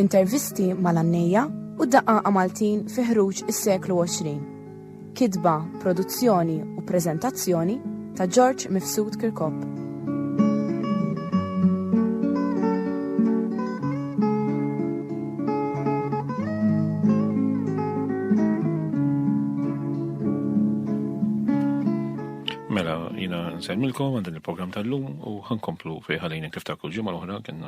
Intervisti mal-għannejja u daqaqa Maltin fi ħruġ is-seklu 20. Kitba, produzzjoni u preżentazzjoni ta' George Mifsud Kirkop. Mela, jina nsemmilkom għandin il-program tal-lum u ħankomplu fi ħalina kif ta' kull ġimma l-oħra kena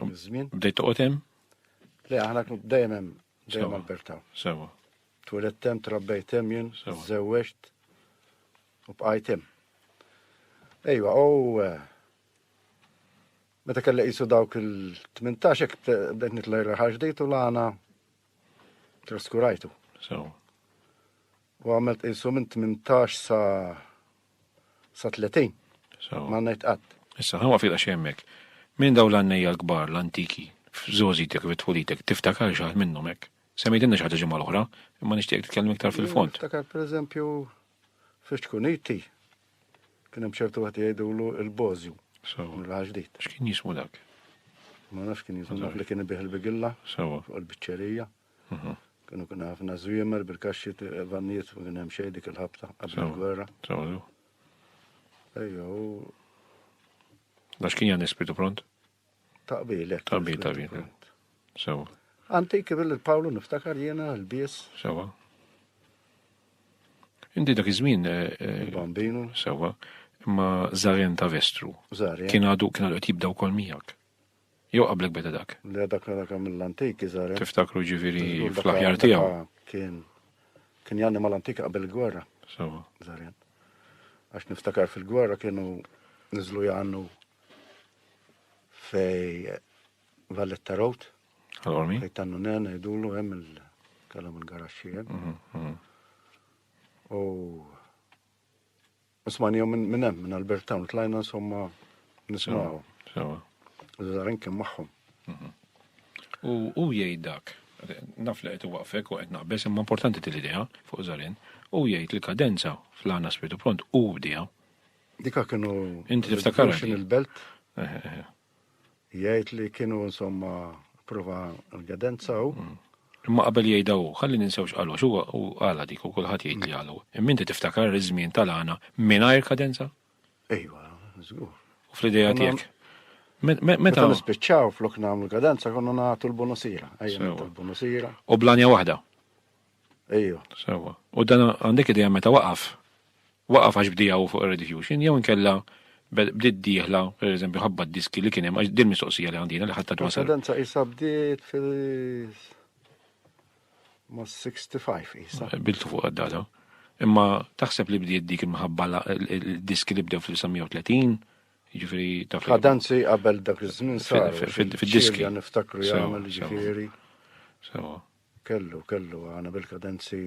Żmien. Bdejt toqgħod hemm? Le, aħna dejjem hemm, dejjem Alberta. Sewa. Tweled hemm, trabbejt hemm jien, żewweġt u bqajt hemm. Ejwa, u eh, meta kellha qisu dawk il-18 hekk bdejt nitlaj raħal ġdejt u l-għana traskurajtu. Sewa. U għamilt qisu minn 18 sa' Sa 30. So. Ma ngħid qatt. Issa, ħanwa fil xi hemmhekk. Minn daw l-għannejja l-kbar, l-antiki, f'żożitek, fit-tfulitek, tiftakar xi ħadd minnhom hekk. Semmejtilna xi ħaġa ġimgħa l-oħra, imma nixtieq titkellem iktar fil-fond. Niftakar pereżempju fiex tkun iti, kien hemm ċertu wieħed jgħidulu il-Bożju. So. L-ħaġdit. X'kien jismu dak? Ma nafx kien jismu dak li kien ibih il-bigilla. Sewa. Fuq il-biċċerija. Kienu kien ħafna żwiemer bil-kaxxi vannijiet ma kien hemm xejn dik il-ħabta qabel il-gwerra. Sawlu. Ejja, u. Għax kien jan ispitu pront? Taqbil, eh. Taqbil, taqbil. Eh. Sewa. Antik bil-Pawlu niftakar jiena l-bies. Sewa. Inti dak iż-żmien. Eh, eh, Bambinu. Sewa. Imma Zaren ta' Vestru. Zaren. Kien għadu kien għadu jibdaw kol miegħek. Jew qablek beda dak? Le dak dak hemm mill-antik iżgħar. Tiftakru ġifieri fl-aħjar tiegħu. Kien kien janni mal-antik qabel il-gwerra. Sewa. Żarjen. Għax niftakar fil-gwerra kienu niżlu jannu fej Valletta Road. Għal-ormi? Fej tannu nen, idulu hemm il-kalam il-garaxxien. Mhm, mhm. U Ismani jom minn hemm, minn Albert Town, tlajna insomma nismaw. Sewa. Zarin kien magħhom. Mhm. U u jgħid dak, naf li qed waqfek u qed naqbeż imma importanti til idea fuq Zarin, u jgħid li kadenza fl-għana spiritu pront u bdija. Dika kienu. Inti tiftakar. Il-belt. Eh, eh, eh. Jgħid li kienu insomma prova l-gedenza u. Mm. Imma qabel jgħidha u, ħalli ninsewx qalu għax huwa u għala dik u kulħadd jgħid li għalu. Imma inti tiftakar iż-żmien tal-għana mingħajr kadenza? Ejwa, żgur. U fl-idea tiegħek. Meta nispiċċaw flok nagħmlu kadenza konna nagħtu l-bonusira. Ejja, l-bonusira. U blanja waħda. Ejju. Sewa. U dan għandek idea meta waqaf? Waqaf għax bdija u fuq ir-redifusion, jew inkella bdiet dieħla, per eżempju, ħabba diski li kien hemm, għax din mistoqsija li għandina li ħatta twasal. Tendenza isa bdiet fil ma 65 isa. Biltu fuq għaddata. Imma taħseb li bdiet dik imħabba l-diski li bdew fil-1930, ġifiri ta' Kadanzi qabel dak iż-żmien sar. Fid-diski. Niftakru jagħmel ġifieri. Sewa. Kellu, kellu għana bil-kadenzi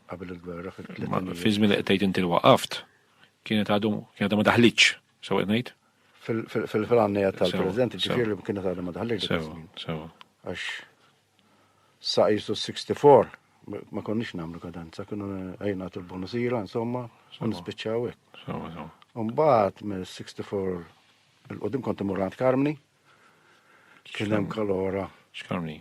qabel il-gwerra fil-tletin. Fi żmien li qed tgħid inti waqaft, kienet għadu kienet ma daħlitx, sew qed ngħid? Fil-għannejja tal-President, ġifieri li kienet għadu ma daħlitx. Sew, sew. Għax sa jisu 64 ma konniex nagħmlu kadenza, kienu għajna tul bonusira, insomma, u nispiċċaw hekk. Sew, sew. Mbagħad mill-64 il-qudiem kont imur Karmni, kien hemm kalora. X'Karmni?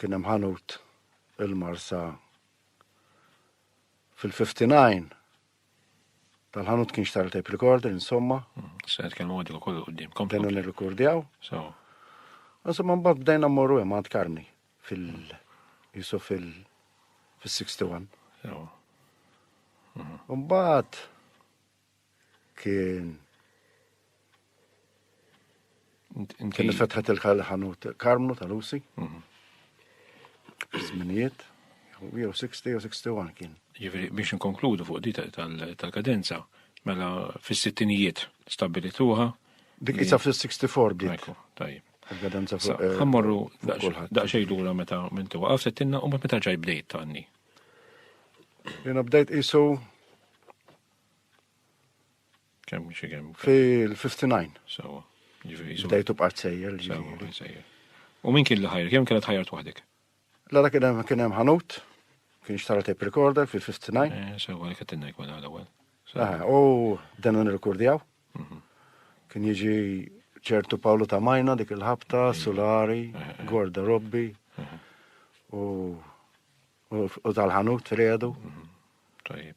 Kien hemm ħanut il-Marsa fil-59 tal-ħanut kien xtara tape recorder, insomma. Mm, se nitkellmu għaddu kollu qudiem. Komplu nirrikordjaw. So. Insomma, mbagħad bdejna mmorru hemm għand Karni fil- jisu fil- fil-61. Mbagħad kien kien fetħet il-ħanut Karmnu tal-Usi. Mhm. Zminijiet, jew 60 jew 61 kien. Ġifieri biex inkonkludu fuq di tal-kadenza, mela fis-sittinijiet stabilituha. Dik isa fis-64 bdiet. Tajjeb. Il-kadenza fuq. Eh, ħammorru daqsxejn lura meta minn tuwa għaf settinna u meta ġaj bdejt tanni. Jena bdejt isu Kem xie kem? Fil-59. Sawa. Ġifiri. Bdejtu b'qart sejjer. U min kien li ħajr? Kem kienet ħajrt waħdek? Lara kien hemm kien hemm ħanut, kien xtara tape recorder fil-59. Eh, sewa li kettinna jkun għal ewwel. Ah, u dan nirrikordjaw. Mhm. Kien jiġi ċertu Pawlu ta' Majna dik il-ħabta, mhm. Sulari, mhm. Gorda Robbi u tal-ħanut Fredu. Tajib.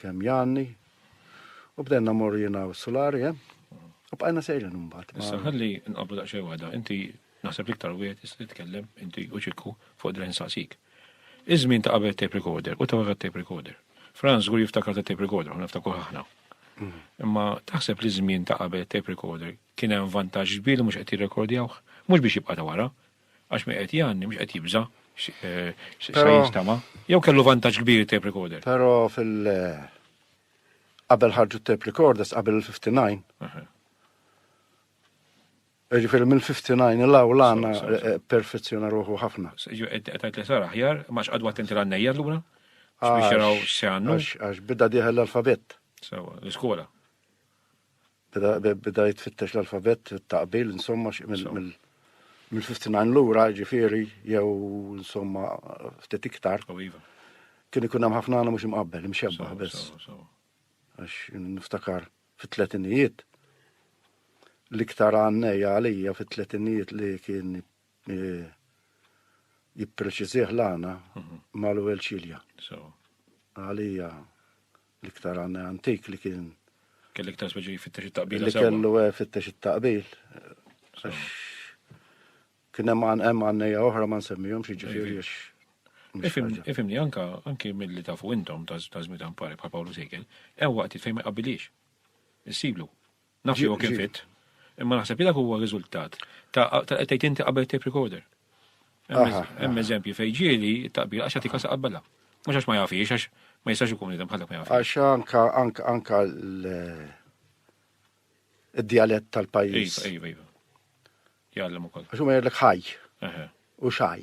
kemm janni, u bdenna morru jina u s-sulari, eh? U bqajna sejrin mbagħad. Issa ħalli nqablu daqsxejn waħda, inti naħseb l-iktar wieħed tista' titkellem inti u ċikku fuq dren saqsik. Iż-żmien ta' qabel tape recorder u ta' wara tape recorder. Franz żgur jiftakar ta' tape recorder, ħna niftakru ħaħna. Mm. Imma taħseb li żmien ta' qabel tape recorder kien hemm vantaġġ kbir li mhux qed jirrekordjawh, mhux biex jibqa' ta' wara, Għax mi qed jgħanni, mhux qed jibża' sa jistama. Jew kellu vantaġġ kbir tape recorder. Però fil- qabel ħarġu tape recorders qabel il-59. Ġifieri mill-59 il-għaw l-għana perfezzjona ruħu ħafna. Qed li sar aħjar, ma x'qadu attenti l-għannejja l-għura? Biex jaraw se għannu? Għax bidda diħel l-alfabet. Sewa, l-iskola. bdajt fittex l-alfabet taqbil insomma mill mill-59 lura ġifiri jew insomma ftit iktar. Oh, iva. Kien ikun hemm ħafna għana mhux imqabbel, imxebbaħ biss. Għax niftakar fit-tletinijiet l-iktar għanneja għalija fit-tletinijiet li kien eh, jippreċizih l-għana mhm. mal-ewwel ċilja. Għalija L-iktar għanna antik li kien. Kelli iktar speċi fittex it-taqbil. Li kellu eh, fittex it-taqbil. Kien hemm hemm għannejja oħra ma nsemmihom xi ġifieri għax. Ifimni anka anki mill-li tafu intom ta' żmita mpari bħal Pawlu Sejkel, hemm waqt fejn ma jqabbilix. Issiblu. Naf li huwa kien fit, imma naħseb li dak huwa riżultat ta' qed tgħid inti qabel tape recorder. Hemm eżempji fejn ġieli t-taqbila għax jagħtik qabbilha. Mhux għax ma jafix, għax ma jistax ikun nidem bħalek ma jafix. Għax anka anka anka l-dialett tal-pajjiż. Iva, iva, iva. Jgħallem ukoll. Għax huma jgħidlek ħaj. U xaj.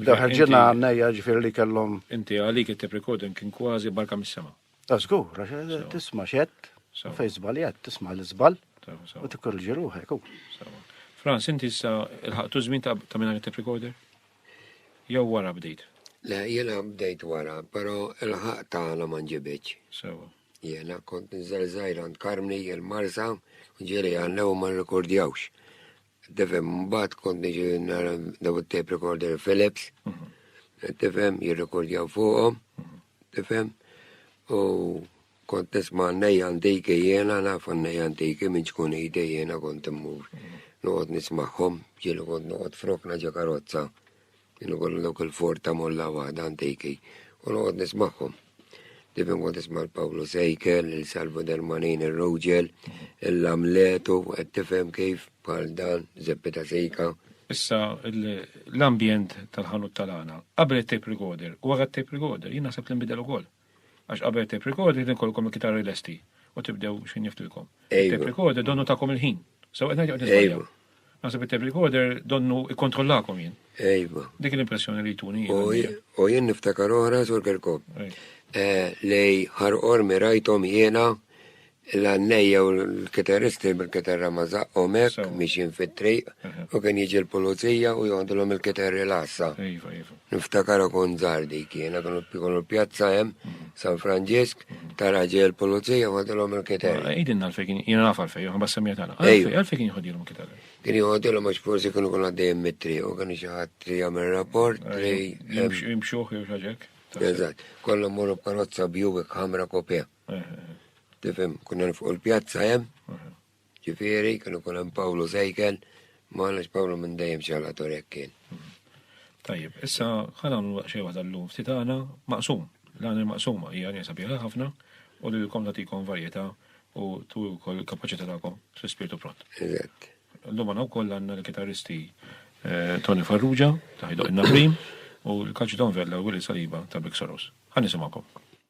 Daħħal ġenna għannejja ġifir li kellhom. Inti għalik it-tep recording kien kważi barka mis-sema. Għazgur, ah, għax eh, tisma xed, fej zbal jgħed, tisma l-zbal, u t-korġi ruħek. Franz, inti issa il-ħaktu zmin ta' minna it-tep recorder? Jew wara bdejt? Le, jena bdejt wara, pero il-ħaq ta' għala manġibieċ. Sewa. Jena kont nżel zaħir għand Karmni, il-Marsa, ġiri għannew ma rekordjawx. Tifhem, mbagħad kont niġi nara daw it-tape recorder Philips, tifhem, jirrekordjaw fuqhom, tifhem, u kont nisma' nejja antiki jiena naf nejja antiki minn ċkun idej jiena kont immur. Noqgħod nismagħhom, ġieli kont noqgħod frokna ġa karozza. Jien ukoll dawk il-for ta' molla waħda antiki u noqgħod nismagħhom. Dejjem kont nisma' l-Pawlu Sejkel, il-Salvo Dermanin, ir-Rogel, il-Lamletu, qed tifhem kif bħal dan Zeppi ta' Sejka. Issa l-ambjent tal-ħanut tal-għana, qabel it-tape recorder u wara t-tape recorder, jien naħseb li nbidel ukoll. Għax qabel tape recorder din kollkom il-kitarri lesti u tibdew x'ħin niftilkom. Tape recorder donnu takom il-ħin. So qed ngħid nisbajja. Naħseb it-tape recorder donnu ikkontrollakom jien. Ejba. Dik l-impressjoni li jtuni. U jien niftakar oħra sur Kerkop. Eh, li ħarqor mirajtom jiena l-għannej jew l-kitarristi bil-kitarra ma zaqqhom hekk miexin fit-triq u kien jiġi l-pulizija u joħdulhom il-kitarri l-għassa. Iva, iva. Niftakar ikun żgħar dik jiena kienu jkunu pjazza hemm mhm. San Franġisk mhm. tara ġej il-pulizija joħdulhom il-kitarri. Għidin għalfej kien jiena naf għalfej, ma semmija tagħna. Għalfej kien jħodilhom il-kitarri. Kien jħodilhom għax forsi kienu kun għaddejjem mitri u kien xi ħadd li jagħmel rapport li jimxuħ jew xaġek. Eżatt, kollha mmorru b'karozza bjuwik ħamra kopja. Tifhem, kunna fuq il-pjazza hemm, ġifieri kienu kun hemm Pawlu sejkel, ma għalax Pawlu minn dejjem xalator hekk kien. Tajjeb, issa ħa nagħmlu xejn waħda llum ftit għana maqsum. L-għana maqsuma hija għanja sabiħa ħafna u li l-kom tagħtikom varjetà u tu wkoll il-kapaċità tagħkom fl-ispirtu pront. Eżatt. Llum għandna wkoll għandna l-kitaristi eh, Tony Farrugia, taħidu in-Nabrim, u l-kaċidon Vella u Willi Saliba ta' Big Soros. Ħan nisimgħukom.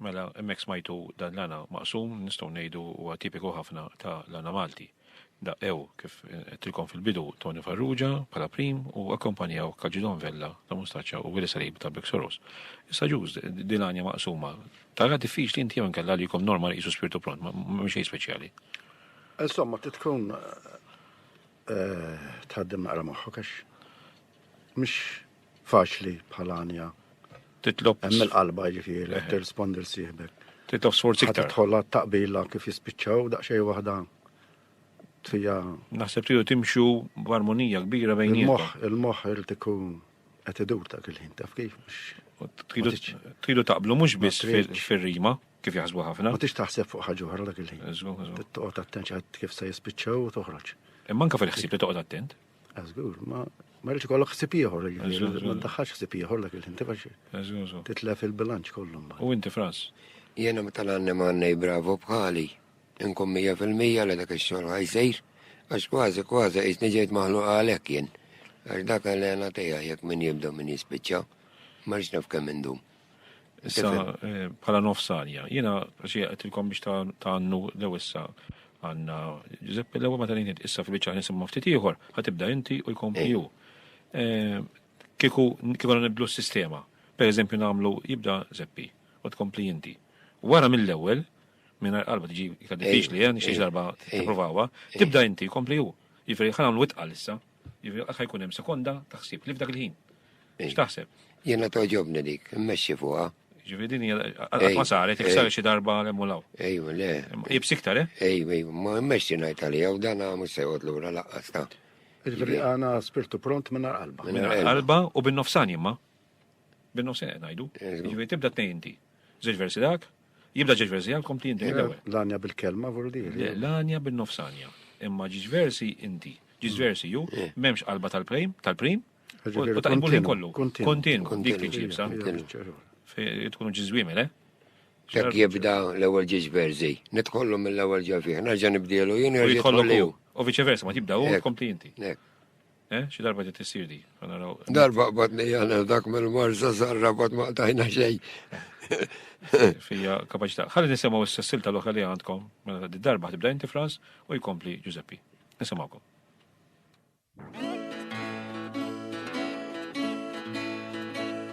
Mela, hemmhekk smajtu dan l-għana maqsum, nistgħu ngħidu huwa tipiku ħafna ta' l-għana Malti. Daqqew, kif għedtilkom fil-bidu, Toni Farrugia bħala prim u akkompanjawh Calgidon Vella ta' Mustaċċa u Willy Salib ta' Bexorus. Issa Ġuż, din l-għanja maqsuma, taraha diffiċli inti jew inkella għalikom normal qisu spirtu pront, m'hemm xejn speċjali? Insomma, trid tkun tħaddem naqra moħħok għax mhix faċli bħal għanja. Titlob. Hemm il-qalba ġifieri, eh. tirrispondi l sieħbek. Titlob sforz iktar. Tidħol taqbila kif jispiċċaw daqsxejn waħda tfija. Naħseb tiegħu timxu b'armonija kbira bejn il-moħħ, il-moħħ irid ikun qed idur ta' kil ħin taf kif. Tridu taqblu mhux biss fir-rima kif jaħsbu ħafna. Ma tix taħseb fuq ħaġa oħra dak il-ħin. Toqgħod attent kif se jispiċċaw u toħroġ. Imma anke fil-ħsieb li toqgħod attent. Għazgur, ma ma rridx ikollok ħsib ieħor, jiġifieri, ma ndaħħax ħsib ieħor dak il-ħin tifax titlef il-bilanċ kollu mbagħad. U inti fras? Jiena meta l-għanni m'għandnej bravo bħali, inkun mija fil-mija li dak ix-xogħol ħajsir, għax kważi kważi qisni ġejt maħluq għalhekk jien. Għax dak l-għena tiegħi jekk min jibda min jispiċċa, ma rridx naf kemm indum. Issa, eh, bħala nofsanja, jena xie għatilkom biex ta' għannu l-ewissa għanna Giuseppe l-ewel ma tanin issa fil-bicċa nisimma ftit ieħor, ħatibda inti u jkompli ju. Eh, kiku kiku nibdlu s-sistema, per eżempju namlu jibda Zeppi u tkompli inti. Wara mill-ewel, minna qalba tiġi kaddifiċ li għan xiex darba t-provawa, tibda inti kompli ju. Jifri ħanamlu witqal issa, Jiġifieri qatt ħajkun hemm sekonda ta' ħsieb li f'dak il-ħin. X'taħseb? Jiena toġobni dik, immexxi fuqha. Ġifieri din hija qatt ma saret, jekk saret xi darba hemm u law. Ejwa, le. Jibs iktar, eh? Ejwa, ejwa, ma immexxi ngħid għalija u dan mhux se jgħod lura laqqas ta'. Ġifieri għana spirtu pront minn qalba. Minn qalba u bin-nofsan jimma. Bin-nofsan ngħidu. Ġifieri tibda tnejn inti. Żewġ versi dak, Jibda ġiex versi għal kompli inti. L-għanja bil-kelma vordi. L-għanja bil-nofsanja. Imma ġiex versi inti. Ġiex versi ju, memx qalba tal-prim, tal-prim, u tajbu li kollu. Kontinu, dik li ġibsa. Tkunu ġizwimi, le? Dak jibda l-ewel ġiex versi. Nitkollu mill-ewel ġafiħ, nerġa nibdilu, jien nerġa nitkollu. U viċe versa, ma tibda u kompli inti. Eh, xi darba ġiet issir di. Darba qbadni jana dak mill-marza zarra bad ma qtajna xejn. Fija kapaċità. Ħalli nisimgħu issa silta l-oħra li għandkom mela ta' darba ħtibda inti Frans u jkompli Giuseppi. Nisimgħukom.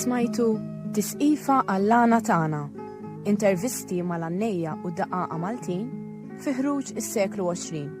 Smajtu Tisqifa għall-għana tagħna. Intervisti mal-għannejja u daqaqa Maltin fi ħruġ is-seklu 20.